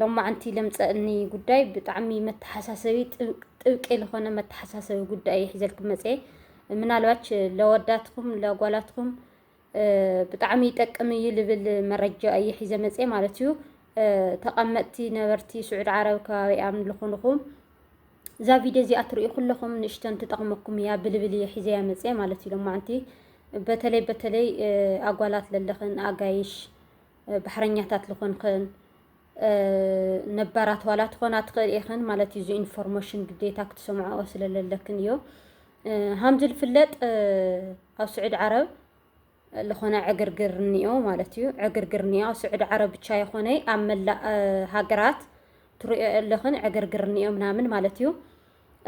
ሎማዓንቲ ለምፀእኒ ጉዳይ ብጣዕሚ መተሓሳሰቢ ጥብቂ ዝኾነ መተሓሳሰቢ ጉዳይ እዩ ሒዘልኩም መፀ ምናልባች ለወዳትኩም ለጓላትኩም ብጣዕሚ ይጠቅም እዩ ልብል መረጃ እዩ ሒዘ መፀ ማለት እዩ ተቐመጥቲ ነበርቲ ስዑድ ዓረብ ከባቢኣም ዝኾንኹም እዛ ቪድዮ እዚኣ ትርእዩ ኩለኹም ንእሽተን ትጠቕመኩም እያ ብልብል እየ ሒዘያ መፀ ማለት እዩ ሎማዓንቲ በተለይ በተለይ ኣጓላት ለለኽን ኣጋይሽ ባሕረኛታት ልኾንክን ነባራት ዋላ ትኾና ትኽእል ኢኽን ማለት እዩ። እዚ ኢንፎርሜሽን ግዴታ ክትሰምዖ ስለለለክን እዩ። ሃምዚ ዝፍለጥ ኣብ ስዑድ ዓረብ ዝኾነ ዕግርግር እኒኦ ማለት እዩ። ዕግርግር እኒኦ ኣብ ስዑድ ዓረብ ብቻ ይኾነ ኣብ መላእ ሃገራት ትሪኦ ኣለኽን ዕግርግር እኒኦ ምናምን ማለት እዩ።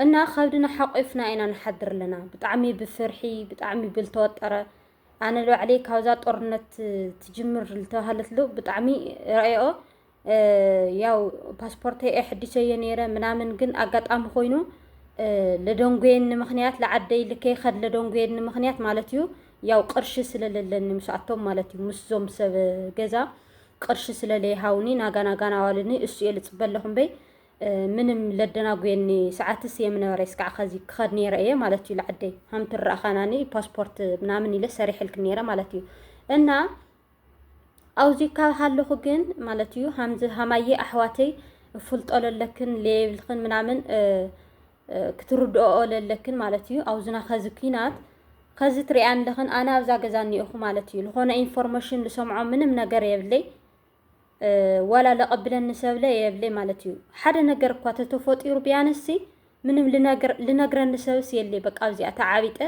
እና ከብድና ሓቂፍና ኢና ንሓድር ኣለና። ብጣዕሚ ብፍርሒ ብጣዕሚ ብልተወጠረ ኣነ ንባዕለይ ካብዛ ጦርነት ትጅምር ዝተባሃለትሉ ብጣዕሚ ረኣየኦ ያው ፓስፖርተይ ኣየሐዲሰዮ ነይረ ምናምን ግን ኣጋጣሚ ኮይኑ ለደንጎየኒ ምክንያት ለዓደይ ልከይ ከድ ለደንጎየኒ ምክንያት ማለት እዩ ያው ቅርሺ ስለለለኒ ምስኣቶም ማለት እዩ ምስዞም ሰብ ገዛ ቅርሺ ስለለይሃውኒ ናጋናጋና ዋልኒ እሱ እየ ልፅበ ኣለኹ እምበይ ምንም ለደናጉየኒ ሰዓት ስየ ምነበረ ስካዕ ከዚ ክኸድ ነይረ እየ ማለት እዩ ለዓደይ ሃምቲ ረኣኻናኒ ፓስፖርት ምናምን ኢለ ሰሪሕልክ ነይረ ማለት እዩ እና ኣብዚ ካብ ሃለኹ ግን ማለት እዩ ሃምዚ ሃማየ ኣሕዋተይ እፍልጦ ለለክን ለየብልክን ምናምን ክትርድኦ ለለክን ማለት እዩ ኣብዝና ከዚ ኩናት ከዚ ትሪኣን ለኽን ኣነ ኣብዛ ገዛ እኒኦኹ ማለት እዩ ዝኾነ ኢንፎርሜሽን ዝሰምዖ ምንም ነገር የብለይ ዋላ ለቐብለኒ ሰብለ የብለይ ማለት እዩ። ሓደ ነገር እኳ ተተፈጢሩ ቢያንስሲ ምንም ልነግረኒ ሰብስ የለ በቃ ኣብዚኣ ተዓቢጠ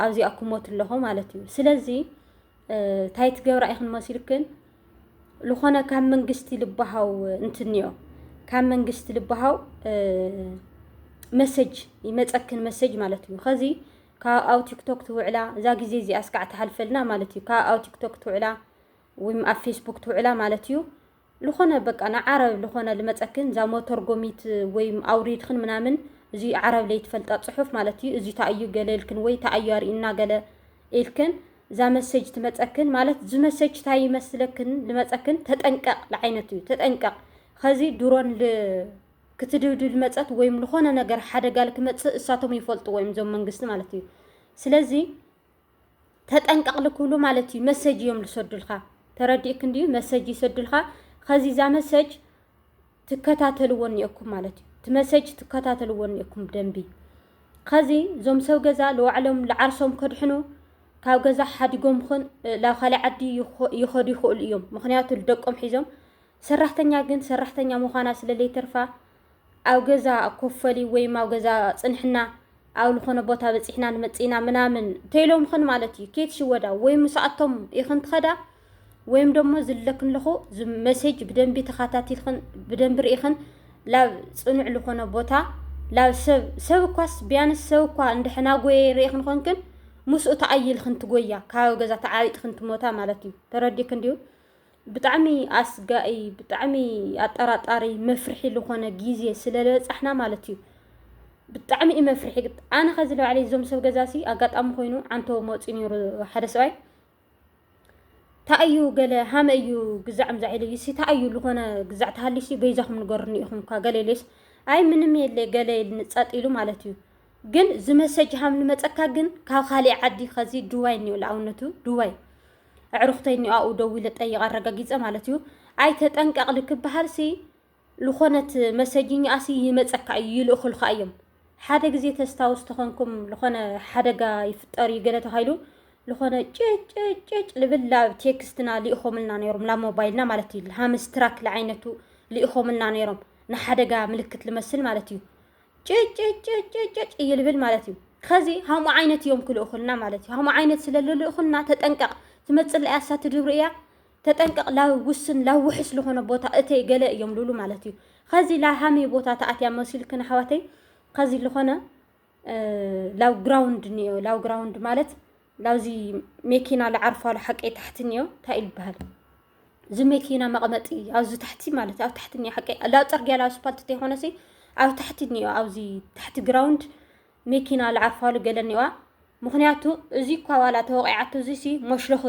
ኣብዚኣ ክሞት ኣለኹ ማለት እዩ። ስለዚ እንታይ ትገብራ ኢኽን መሲልክን ዝኾነ ካብ መንግስቲ ልባሃው እንትንዮ ካብ መንግስቲ ልባሃው መሰጅ ይመፀክን መሰጅ ማለት እዩ ከዚ ካብ ኣብ ቲክቶክ ትውዕላ እዛ ግዜ እዚኣ እስካዕ ትሓልፈልና ማለት እዩ ካብ ኣብ ቲክቶክ ትውዕላ ወይ ኣብ ፌስቡክ ትውዕላ ማለት እዩ ልኾነ በቃ ንዓረብ ልኾነ ልመፀክን እዛ መተርጎሚት ወይ ኣውሪድክን ምናምን እዚ ዓረብ ለይትፈልጣ ፅሑፍ ማለት እዩ እዚ ታእዩ ገለ ኢልክን ወይ ታእዩ ኣርእና ገለ ኢልክን እዛ መሰጅ ትመፀክን ማለት እዚ መሰጅ ታይ ይመስለክን ልመፀክን ተጠንቀቕ ልዓይነት እዩ ተጠንቀቕ ከዚ ድሮን ክትድብድ ልመፀት ወይም ልኾነ ነገር ሓደጋ ልክመፅእ እሳቶም ይፈልጥዎ እዮም እዞም መንግስቲ ማለት እዩ ስለዚ ተጠንቀቅ ልክብሉ ማለት እዩ መሰጅ እዮም ልሰዱልካ ተረዲእክ እንድዩ መሰጅ ይሰዱልካ ከዚ እዛ መሰጅ ትከታተልዎ እኒኦኩም ማለት እዩ እቲ መሰጅ ትከታተልዎ እኒኦኩም ደንቢ ከዚ እዞም ሰብ ገዛ ልዋዕሎም ልዓርሶም ከድሕኑ ካብ ገዛ ሓዲጎም ኹን ላብ ካልእ ዓዲ ይኸዱ ይኽእሉ እዮም ምክንያቱ ልደቆም ሒዞም ሰራሕተኛ ግን ሰራሕተኛ ምዃና ስለ ለይተርፋ ኣብ ገዛ ኮፈሊ ወይም ኣብ ገዛ ጽንሕና ኣብ ዝኾነ ቦታ በጺሕና ንመጽእና ምናምን ተይሎም ኽን ማለት እዩ ኬት ሽወዳ ወይም ምስኣቶም ይኽን ትኸዳ ወይም ደሞ ዝለክን ለኹ መሴጅ ብደንቢ ተኻታቲልክን ብደንቢ ርኢኽን ላብ ጽኑዕ ዝኾነ ቦታ ላብ ሰብ ሰብ እኳስ ቢያንስ ሰብ እኳ እንድሕና ጎየ ርኢኽን ኾንክን ምስኡ ተኣይልክን ትጎያ ካብ ገዛ ተዓቢጥክን ትሞታ ማለት እዩ ተረዲክን ድዩ ብጣዕሚ ኣስጋኢ ብጣዕሚ ኣጠራጣሪ መፍርሒ ዝኾነ ግዜ ስለ በጻሕና ማለት እዩ። ብጣዕሚ እዩ መፍርሒ ግን ኣነ ከዚ ንባዕለይ እዞም ሰብ ገዛሲ ኣጋጣሚ ኮይኑ ዓንተቦ መውፂ ነይሩ ሓደ ሰብኣይ እንታይ እዩ ገለ ሃመ እዩ ግዛዕ ምዛዕ ኢለ እዩሲ እንታይ እዩ ዝኾነ ግዛዕ ተሃሊሲ በይዛኹም ንገሩኒ ኢኹም እኳ ገለ ኢለስ ኣይ ምንም የለ ገለ ኢልኒ ጸጥ ኢሉ ማለት እዩ ግን ዝመሰጅ ሃም ንመጸካ ግን ካብ ካሊእ ዓዲ ከዚ ዱባይ እኒኦ ንኣብነቱ ዱባይ ኣዕሩኽተይ እኒኦኣኡ ደው ኢለ ጠይቕ ኣረጋጊፀ ማለት እዩ ኣይ ተጠንቀቕ ልክበሃል ሲ ልኾነት መሰጅኛኣ ሲ ይመፀካ እዩ ይልእኹልካ እዮም ሓደ ግዜ ተስታውስ ተኾንኩም ዝኾነ ሓደጋ ይፍጠር እዩ ገለ ተባሂሉ ዝኾነ ጭጭጭጭ ልብል ላብ ቴክስትና ልኢኾምልና ነይሮም ላብ ሞባይልና ማለት እዩ ሃምስትራክ ልዓይነቱ ልኢኾምልና ነይሮም ንሓደጋ ምልክት ልመስል ማለት እዩ ጭጭጭጭጭጭ እይልብል ማለት እዩ። ከዚ ሃምኡ ዓይነት እዮም ክልእኹልና ማለት እዩ። ሃምኡ ዓይነት ስለ ልልእኹልና ተጠንቀቕ፣ ትመፅእ እያ እሳ ትድብሪ እያ ተጠንቀቕ ላብ ውስን ላብ ውሕስ ልኾነ ቦታ እተይ ገለ እዮም ልብሉ ማለት እዩ። ከዚ ላ ሃመይ ቦታ ተኣትያ መሲልክን ኣሕዋተይ ከዚ ልኾነ ላው ግራውንድ እኒኦ ላው ግራውንድ ማለት ላብዚ መኪና ልዓርፋሉ ሓቀይ ታሕቲ እኒኦ እንታይ ይበሃል እዚ መኪና መቐመጢ ኣብዚ ታሕቲ ማለት ኣብ ታሕቲ እኒኦ ሓቀይ ላብ ፅርግያ ላብ ስፓልት ተይኮነሲ ኣብ ታሕቲ እኒኦ ኣብዚ ታሕቲ ግራውንድ መኪና ልዓርፋሉ ገለ እኒዋ ምክንያቱ እዚ እኳ ዋላ ተወቂዓቶ እዚ ሲ ሞሽለኽ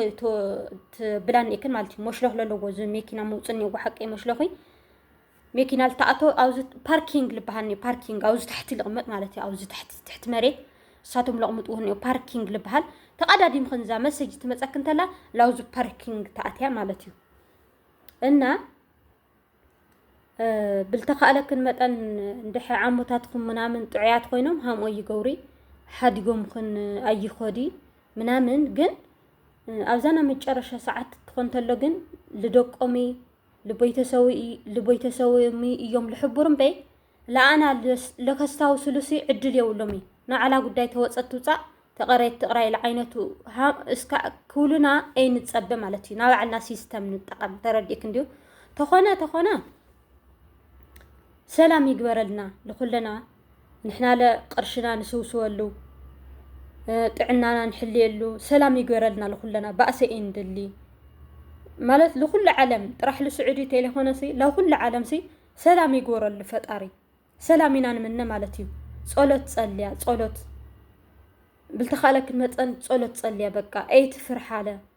ብላን እክን ማለት እዩ ሞሽለኽ ለለዎ እዚ መኪና ምውፅ እኒዎ ሓቀይ ሞሽለኺ መኪና ልትኣቶ ኣብዚ ፓርኪንግ ልበሃል እኒኦ ፓርኪንግ ኣብዚ ታሕቲ ልቕመጥ ማለት እዩ ኣብዚ ታሕቲ ትሕቲ መሬት ንሳቶም ለቕምጥዎ እኒኦ ፓርኪንግ ልበሃል ተቐዳዲምክን እዛ መሰጅ ትመፀክ እንተላ ላውዚ ፓርኪንግ ተኣትያ ማለት እዩ እና ብልተኻእለክን መጠን እንድሐ ዓሞታትኩም ምናምን ጥዑያት ኮይኖም ሃምኦ ይገብሪ ሓዲጎምክን ኣይኮዲ ምናምን ግን ኣብዛና መጨረሻ ሰዓት ትኾን ተሎ ግን ልደቆሚ ልቦይተሰውሚ እዮም ልሕቡር እምበይ ለኣና ለከስታው ስሉሲ ዕድል የውሎሚ ንዓላ ጉዳይ ተወፀት ትውፃእ ተቐረየት ትቕራይ ለዓይነቱ እስካ ክውሉና ኣይ ንፀበ ማለት እዩ ናባዕልና ሲስተም ንጠቐም ተረዲእክ እንዲዩ ተኾነ ተኾነ ሰላም ይግበረልና ልኹለና ንሕናለ ቅርሽና ንስውስወሉ ጥዕናና ንሕልየሉ ሰላም ይገረልና ልኩለና ባእሰ እዩ ንድሊ ማለት ልኩሉ ዓለም ጥራሕ ልስዑዲ ቴሌኮነሲ ለኩሉ ዓለምሲ ሰላም ይግበረሉ ፈጣሪ ሰላም ኢና ንምነ ማለት እዩ ጸሎት ጸልያ ጸሎት ብልተኻለክን መጠን ጸሎት ጸልያ በቃ ኤት ፍርሓለ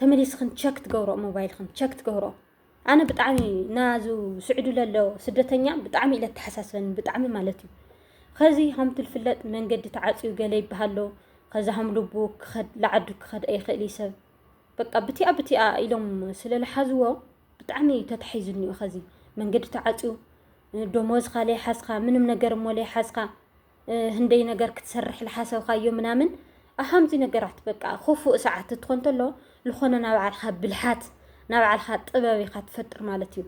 ተመሊስክን ቸክ ትገብሮ ሞባይልክን ቸክ ትገብሮ ኣነ ብጣዕሚ ናዙ ስዑዲ ለሎ ስደተኛ ብጣዕሚ ኢለ ተሓሳስበኒ ብጣዕሚ ማለት እዩ ከዚ ከምቲ ዝፍለጥ መንገዲ ተዓፅዩ ገለ ይበሃሎ ከዛ ከም ልቡ ክኸድ ላዓዱ ክኸድ ኣይኽእል እዩ ሰብ በቃ ብቲኣ ብቲኣ ኢሎም ስለዝሓዝዎ ብጣዕሚ እዩ ተታሒዙኒ እዩ ከዚ መንገዲ ተዓፅዩ ደሞዝካ ለይሓዝካ ምንም ነገር እሞ ለይሓዝካ ህንደይ ነገር ክትሰርሕ ዝሓሰብካዮ ምናምን ኣብ ከምዚ ነገራት በቃ ክፉእ ሰዓት እትኾን ተሎ ዝኾነ ናብ ባዕልካ ብልሓት ናብ ባዕልካ ጥበብ ኢኻ ትፈጥር ማለት እዩ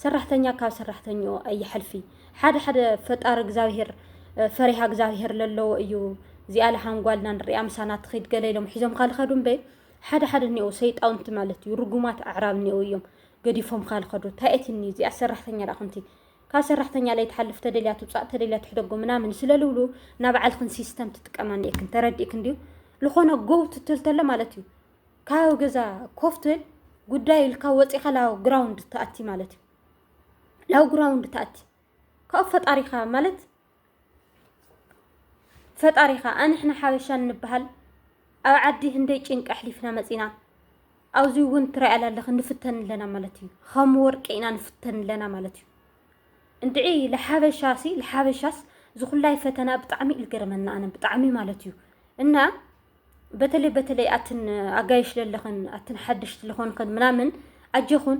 ሰራሕተኛ ካብ ሰራሕተኛኡ ኣይሓልፊ ሓደ ሓደ ፈጣሪ እግዚኣብሄር ፈሪሃ እግዚኣብሄር ዘለዎ እዩ እዚኣ ለሃንጓልና ንሪኣ ምሳና ትኸይድ ገለ ኢሎም ሒዞም ካልኸዱ እምበይ ሓደ ሓደ እኒኦ ሰይጣውንቲ ማለት እዩ ርጉማት ኣዕራብ እኒኦ እዮም ገዲፎም ካልኸዱ እንታይ እትኒ እዚኣ ሰራሕተኛ ዳኹንቲ ካብ ሰራሕተኛ ለይትሓልፍ ተደልያ ትውፃእ ተደልያ ትሕደጎ ምናምን ስለልብሉ ናብ ባዕልክን ሲስተም ትጥቀማ እኒኤክን ተረዲእክን ድዩ ዝኾነ ጎው ትትል ተሎ ማለት እዩ ካብ ገዛ ኮፍ ትብል ጉዳይ ኢልካ ወፂኻ ላው ግራውንድ ትኣቲ ማለት እዩ ላው ግራውንድ ትኣቲ ካብኡ ፈጣሪኻ ማለት ፈጣሪኻ ኣንሕና ሓበሻ እንበሃል ኣብ ዓዲ ህንደይ ጭንቂ ኣሕሊፍና መፂና ኣብዚ እውን ትሪኣላ ኣለኺ ንፍተን ኣለና ማለት እዩ ከም ወርቂ ኢና ንፍተን ኣለና ማለት እዩ እንድዒ ልሓበሻ ሲ ልሓበሻስ ዝኹላይ ፈተና ብጣዕሚ እዩ ዝገርመና ኣነ ብጣዕሚ ማለት እዩ እና በተለይ በተለይ ኣትን ኣጋይሽ ለለኽን ኣትን ሓድሽቲ ዝኾንኽን ምናምን ኣጀኹን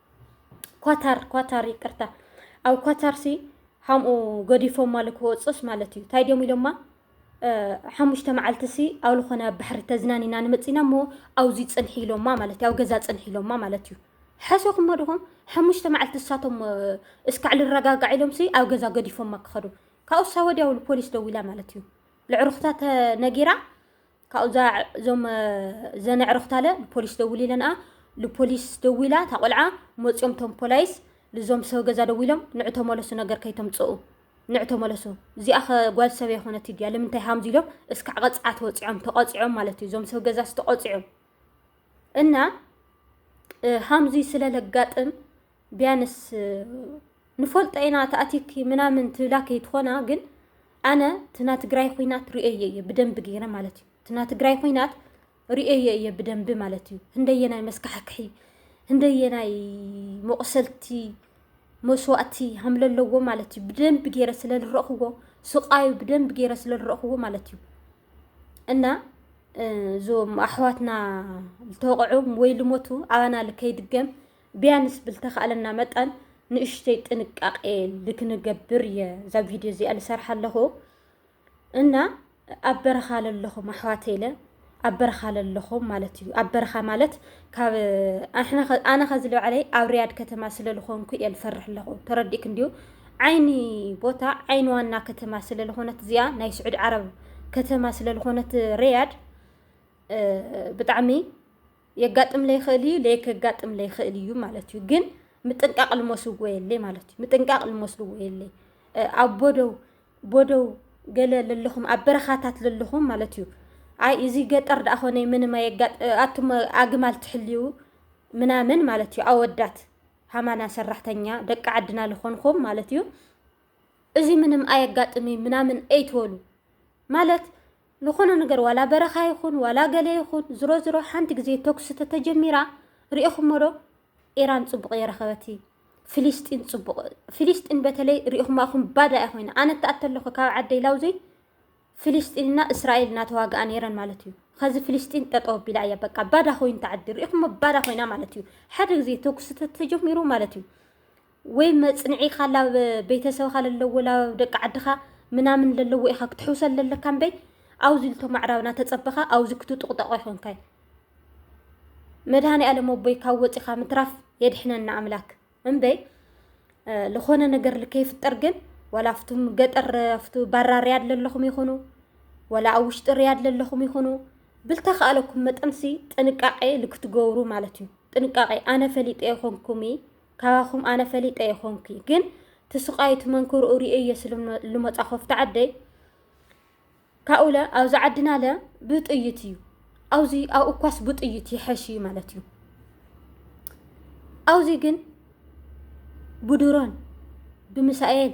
ኳታር ኳታር ይቅርታ ኣብ ኳታርሲ ሓምኡ ገዲፎም ማለት ክወፅስ ማለት እዩ እንታይ ድዮም ኢሎማ ሓሙሽተ መዓልትሲ ኣብ ዝኾነ ኣብ ባሕሪ ተዝናኒና ንመፂና እሞ ኣብዚ ፅንሒ ኢሎማ ማለት እዩ ኣብ ገዛ ፅንሒ ኢሎማ ማለት እዩ ሓሶኹም ድኹም ሓሙሽተ መዓልቲ እሳቶም እስካዕ ልረጋጋዕ ኢሎምሲ ኣብ ገዛ ገዲፎማ ክኸዱ ካብኡሳ ወዲያውሉ ፖሊስ ደዊላ ማለት እዩ ልዕሩኽታ ተነጊራ ካብኡ እዛ እዞም ዘን ኣዕርኽታ ለ ልፖሊስ ደውሊ ለንኣ ልፖሊስ ደዊላ እታ ቆልዓ መፂኦም እቶም ፖላይስ ልዞም ሰብ ገዛ ደዊሎም ንዑ ተመለሱ ነገር ከይተምፅኡ ንዑ ተመለሱ እዚኣ ከ ጓል ሰብ የኾነት ድያ ልምንታይ ሃምዚ ኢሎም እስካዕ ቐፅዓት ወፂዖም ተቐፂዖም ማለት እዩ እዞም ሰብ ገዛ ዝተቐፂዑ እና ሃምዚ ስለ ለጋጥም ቢያንስ ንፈልጦ ኢና ተኣቲኪ ምናምን ትብላ ከይትኾና ግን ኣነ ትና ትግራይ ኹናት ርእየ እየ ብደንቢ ገይረ ማለት እዩ ትና ትግራይ ኹናት ርእየ እየ ብደንቢ ማለት እዩ ህንደየናይ መስካሕክሒ ህንደየናይ መቑሰልቲ መስዋእቲ ሃምለ ኣለዎ ማለት እዩ ብደንቢ ገይረ ስለ ዝረእኽዎ ስቃዩ ብደንቢ ገይረ ስለ ዝረእኽዎ ማለት እዩ እና እዞም ኣሕዋትና ዝተወቕዑ ወይ ልሞቱ ኣባና ልከይድገም ቢያንስ ብልተኻእለና መጠን ንእሽተይ ጥንቃቄ ልክንገብር እየ እዛ ቪድዮ እዚኣ ልሰርሓ ኣለኹ እና ኣብ በረኻ ለለኹም ኣሕዋተይ ኢለ ኣብ በረኻ ለለኹም ማለት እዩ ኣብ በረኻ ማለት ካብ ኣነ ከዚ ልባዕለይ ኣብ ሪያድ ከተማ ስለ ዝኾንኩ እየ ልፈርሕ ኣለኹ ተረዲእክ እንዲዩ ዓይኒ ቦታ ዓይኒ ዋና ከተማ ስለ ዝኾነት እዚኣ ናይ ስዑድ ዓረብ ከተማ ስለ ዝኾነት ሪያድ ብጣዕሚ የጋጥም ለይክእል እዩ ለይ ከጋጥም ለይክእል እዩ ማለት እዩ ግን ምጥንቃቅ ልመስዎ የለይ ማለት እዩ ምጥንቃቅ ልመስልዎ የለይ ኣብ ቦደው ቦደው ገለ ለለኹም ኣብ በረኻታት ለለኹም ማለት እዩ ኣይ እዚ ገጠር ደኣ ኾነ ምንም ኣየጋጥ ኣቱም ኣግማል ትሕልዩ ምናምን ማለት እዩ ኣወዳት ሃማና ሰራሕተኛ ደቂ ዓድና ልኾንኹም ማለት እዩ እዚ ምንም ኣየጋጥም እዩ ምናምን ኣይትበሉ ማለት ልኾነ ነገር ዋላ በረኻ ይኹን ዋላ ገለ ይኹን ዝሮ ዝሮ ሓንቲ ግዜ ተኩሲ ተተጀሚራ ሪኢኹሞዶ ኢራን ጽቡቕ የረኸበት ፍሊስጢን ጽቡቕ ፍሊስጢን በተለይ ሪኢኹማ ኢኹም ባዳ እያ ኮይና ኣነ እትኣተ ኣለኹ ካብ ዓደይ ላውዘይ ፍሊስጢንና እስራኤል እናተዋግኣ ነይረን ማለት እዩ ከዚ ፍሊስጢን ጠጠው ኣቢላ እያ በቃ ባዳ ኮይኑ ተዓዲ ሪኢኹሞ ባዳ ኮይና ማለት እዩ ሓደ ግዜ ተኩሲ ተተጀሚሩ ማለት እዩ ወይ መጽንዒ ኢካ ላብ ቤተሰብካ ለለዎ ላብ ደቂ ዓድካ ምናምን ለለዎ ኢካ ክትሕውሰል ለለካ እምበይ ኣውዚ ልቶም ኣዕራብ ናተጸበካ ኣውዚ ክትጡቅጠቅ ኣይኮንካይ መድሃኒኣለም ኣቦይ ካብ ወጺካ ምትራፍ የድሕነና ኣምላክ እምበይ ልኮነ ነገር ልከይፍጠር ግን ወላ ኣብቱም ገጠር ኣብቱ ባራ ርያድ ለለኹም ይኹኑ ወላ ኣብ ውሽጢ ርያድ ለለኹም ይኹኑ ብልተካኣለኩም መጠንሲ ጥንቃቄ ልክትገብሩ ማለት እዩ ጥንቃቄ ኣነ ፈሊጠ ይኮንኩምይ ካባኹም ኣነ ፈሊጠ ኣይኾንኩይ ግን ትስቃዩ ትመንክርኡ ርእየ ስልመሉመፃ ኮፍቲ ዓደይ ካብኡለ ኣብዚ ዓድና ለ ብጥይት እዩ ኣብዚ ኣብ እኳስ ብጥይት ይሐሽ እዩ ማለት እዩ ኣብዚ ግን ብድሮን ብምሳኤል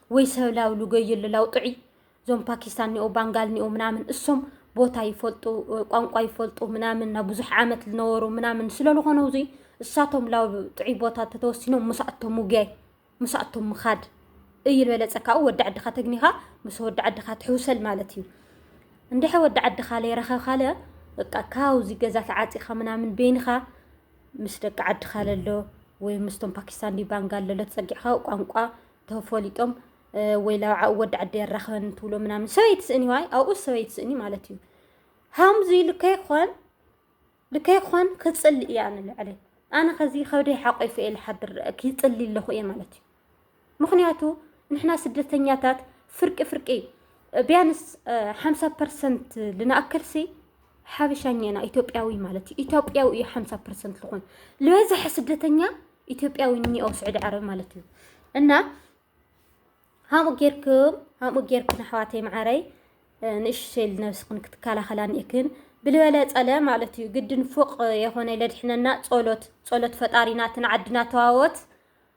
ወይ ሰብ ላው ልገይል ላው ጥዑይ እዞም ፓኪስታን ኒኦ ባንጋል ኒኦ ምናምን እሶም ቦታ ይፈልጡ ቋንቋ ይፈልጡ ምናምን ናብ ብዙሕ ዓመት ዝነበሩ ምናምን ስለዝኾኑ እዙይ እሳቶም ላብ ጥዑይ ቦታ ተተወሲኖም ምሳእቶም ውግያይ ምሳእቶም ምኻድ እዩ ዝበለፀ ካብኡ ወዲ ዓድኻ ተግኒኻ ምስ ወዲ ዓድኻ ትሕውሰል ማለት እዩ እንድሐ ወዲ ዓድኻ ለይረኸብካለ በቃ ካብዚ ገዛ ተዓፂኻ ምናምን ቤንኻ ምስ ደቂ ዓድኻ ለሎ ወይ ምስቶም ፓኪስታን ዲባንጋ ለሎ ተፀጊዕኻ ቋንቋ ተፈሊጦም ወይ ላብዓኡ ወዲ ዓዲ የራኽበኒ ትብሎ ምናምን ሰበይ ትስእኒ ዋይ ኣብኡ ሰበይ ትስእኒ ማለት እዩ ሃምዚ ልከይ ኾን ልከይ ኾን ክፅሊ እያ ንልዕለይ ኣነ ከዚ ከብደይ ሓቆይፈ እየ ልሓድር ክፅሊ ኣለኹ እየ ማለት እዩ ምክንያቱ ንሕና ስደተኛታት ፍርቂ ፍርቂ ቢያንስ ሓምሳ ፐርሰንት ልንኣክልሲ ሓበሻኛ ኢና ኢትዮጵያዊ ማለት እዩ ኢትዮጵያዊ እዩ ሓምሳ ፐርሰንት ዝኾን ዝበዝሐ ስደተኛ ኢትዮጵያዊ እኒኦ ስዑዲ ዓረብ ማለት እዩ እና ሃምኡ ጌርክም ሃምኡ ጌርክን ኣሕዋተይ መዓረይ ንእሽሸል ነብስክን ክትከላኸላ ኒእክን ብልበለ ጸለ ማለት እዩ ግድን ፎቅ የኾነ ለድሕነና ጸሎት ጸሎት ፈጣሪናትን ዓድና ተዋወት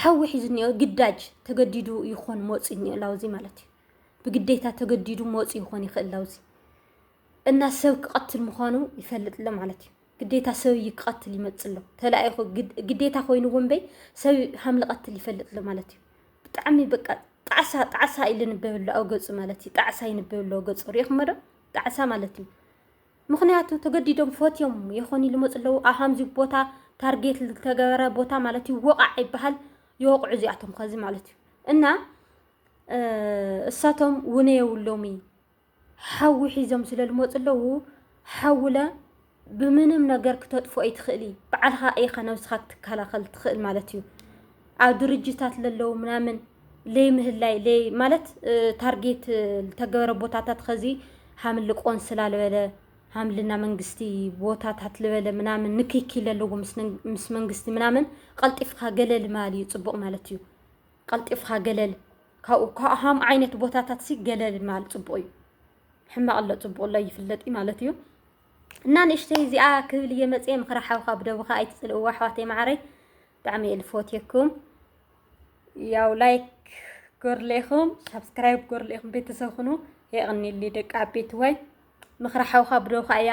ሓዊ ሒዙ እኒኦ ግዳጅ ተገዲዱ ይኾን መወፂ እኒኦ ላውዚ ማለት እዩ። ብግዴታ ተገዲዱ መወፂ ይኾን ይኽእል ላውዚ እና ሰብ ክቐትል ምዃኑ ይፈልጥ ኣሎ ማለት እዩ። ግዴታ ሰብ እዩ ክቐትል ይመፅእ ኣሎ ተላኢኹ ግዴታ ኮይኑ እውን በይ ሰብ ሃም ልቐትል ይፈልጥ ኣሎ ማለት እዩ። ብጣዕሚ በቃ ጣዕሳ ጣዕሳ ኢሉ ንበብ ኣሎ ኣብ ገፁ ማለት እዩ። ጣዕሳ ይንበብ ኣሎ ገፁ ሪኢኹሞ ዶ ጣዕሳ ማለት እዩ። ምኽንያቱ ተገዲዶም ፈትዮም የኾኒ ልመፁ ኣለዉ ኣሃምዚ ቦታ ታርጌት ዝተገበረ ቦታ ማለት እዩ ወቓዕ ይበሃል ይወቕዑ እዚኣቶም ከዚ ማለት እዩ እና እሳቶም ውነ የብሎሚ ሓዊ ሒዞም ስለ ልመፁ ኣለዉ ሓውለ ብምንም ነገር ክተጥፍኦ ይትኽእሊ በዓልኻ ኢኻ ነብስኻ ክትከላኸል ትኽእል ማለት እዩ ኣብ ድርጅታት ለለዉ ምናምን ለይምህላይ ለይ ማለት ታርጌት ዝተገበረ ቦታታት ኸዚ ሃምሊ ቆንስላ ልበለ ሃምልና መንግስቲ ቦታታት ልበለ ምናምን ንክኪ ለለዎ ምስ መንግስቲ ምናምን ቀልጢፍካ ገለል ማል እዩ ፅቡቕ ማለት እዩ ቀልጢፍካ ገለል ካብኡ ካብሃም ዓይነት ቦታታት ሲ ገለል ማል ፅቡቕ እዩ ሕማቕ ኣሎ ፅቡቕ ኣሎ ይፍለጥ ማለት እዩ እና ንእሽተይ እዚኣ ክብል እየ መፅየ ምኽሪ ሓውካ ብደብኻ ኣይትፅልእዎ ኣሕዋተይ መዓረይ ብጣዕሚ እየ ልፎትየኩም ያው ላይክ ጎርሌኹም ሳብስክራይብ ጎርሌኹም ቤተሰብ ኩኑ የቕኒሊ ደቂ ዓበይቲ ወይ ምኽሪ ሓውካ ብደብኻ እያ